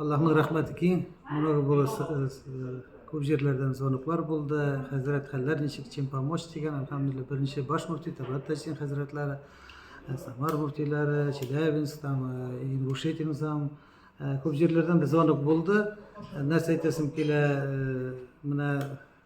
Аллаһның рәхмәте киң. Моны бу күп җирләрдән звоноклар булды. Хәзрәт хәлләр ничек, чем помочь дигән. Әлхәмдулилла, беренче баш мөфти Табат Тәсин хәзрәтләре, э, Самар мөфтиләре, Челябинск там, э, Ингушетия там. Э, күп җирләрдән звонок булды. Нәрсә әйтәсем килә, менә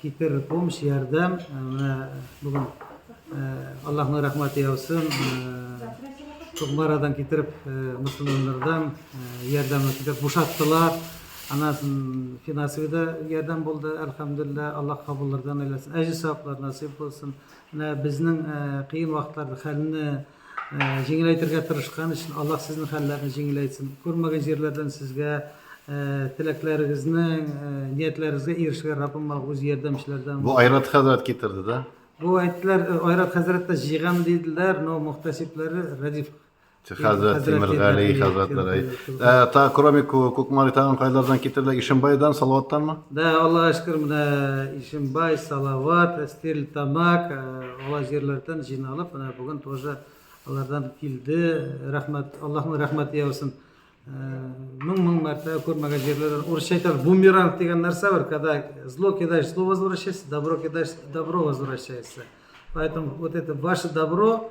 Китер помощь, ярдәм. Менә бүген Аллаһның рәхмәте яусын. Кукмарадан китереп, мөселманнардан ярдәмне китереп бушаттылар. Анасын финансовый да ярдәм булды, әлхәмдулилла, Аллаһ кабуллардан әйләсен. Әҗе саваплар насыйп булсын. Менә безнең кыен вакытларда хәлне Җиңеләйтергә тырышкан өчен Аллаһ сезнең хәлләрне җиңеләйтсен. Күрмәгән җирләрдән сезгә теләкләрегезнең, ниятләрегезгә ирешергә Раббым Аллаһ үз ярдәмчеләрдән. Бу Айрат хәзрәт китерде дә. Бу әйттеләр, Айрат хәзрәт тә җыйган диделәр, но мөхтәсибләре Рәдиф хәзрәт, Тимергали хәзрәтләр әйт. Та кроме Кукмари тагын кайлардан китерделәр? Ишембайдан, Салаваттанмы? Да, Аллага шөкер, менә Ишембай, Салават, Стерлитамак, Ала җирләрдән җыйналып, менә бүген тоже алардан килде. Рәхмәт, Аллаһның рәхмәте яусын. Мең-мең мәртәбә күрмәгән җирләрдән. Урысча әйтәбез, бумеранг дигән нәрсә бар, когда зло кидаешь, зло возвращается, добро кидаешь, добро возвращается. Поэтому вот это ваше добро,